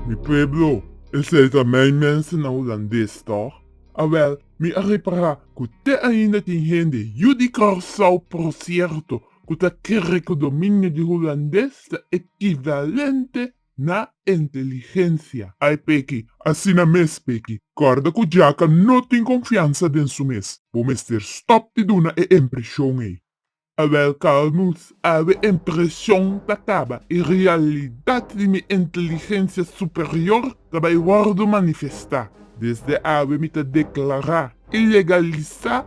Mi pueblo, esei ta mei mensen na Hulandes, tòg? Awèl, mi a repará ku te ainda tin hende yu di Kòrsou, prosierto, ku ta kere ku dominio di Hulandes ta ekivalente Na inteligencia. Ai Peki, asina mes Peki. Kòrda ku Jaka no tin konfiansa den su mes. Bo mester stòp di duna e impreshon ei. Awèl Carlmuth, awe impreshon ta kaba. E realidat di mi inteligencia superior ta bai wòrdu manifestá. Desde awe mi ta deklará i legalisá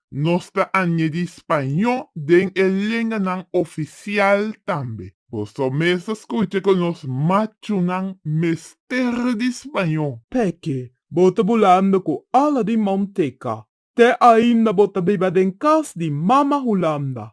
Nos ta añedi spañó den e lenganan ofisial tambe. Boso mes ta skucha ku nos machunan mester di spañó. P'esei bo ta bulando ku ala di Mounteka. Te ainda bo ta biba den kas di Mama Hulanda.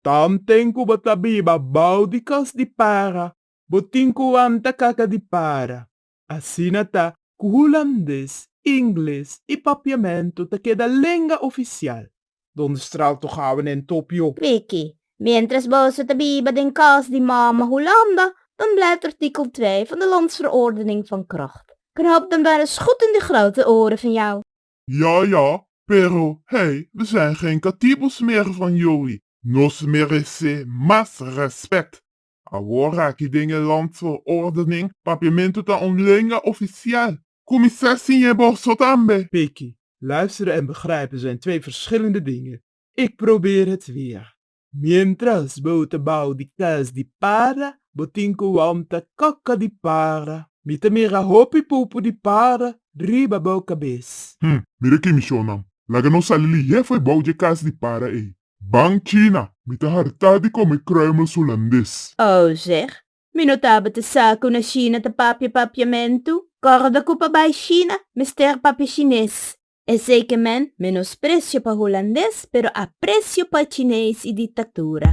Tanten ku bo ta biba bou di kas di para, bo tin ku wanta kaka di para. Asina ta ku hulandes, ingles i papiamentu ta keda lenga ofisial. Donde straal to gaba nen topio. Triki, mientras boso ta biba den kos di mama Hulanda, dan blèt artikel twee van de Landsverordening van Kracht. Knoop dan maar eens goed in de grote oren van jou. Ja, ja, pero hey, we zijn geen katibus meer van jullie. Nos merece mas respect. Awor aki den e Landsverordening, Papiamentu ta un lenga ofisial. Kuminsá siña boso tambe. Peki, luisteren en begrijpen zijn twee verschillende dingen. Ik probeer het weer. Mientras bo ta bao di kas di para, bo tin ku wanta kaka di para. Mi ta mira hopi pupu di para riba bo kabes. Hm, mira ki mishonnan. Laga nos sali lihé fo'i bao dje kas di para ei. Ban China, mi ta hartá di kome kruimels Hulandes. Oh, zeg, mi no tabata sa ku na Shina ta papia papiamentu. Kòrda ku pa bai Shina, mester papia Shines. Esei ke men, menospresio pa Hulandes, pero apresio pa Chines i diktatura.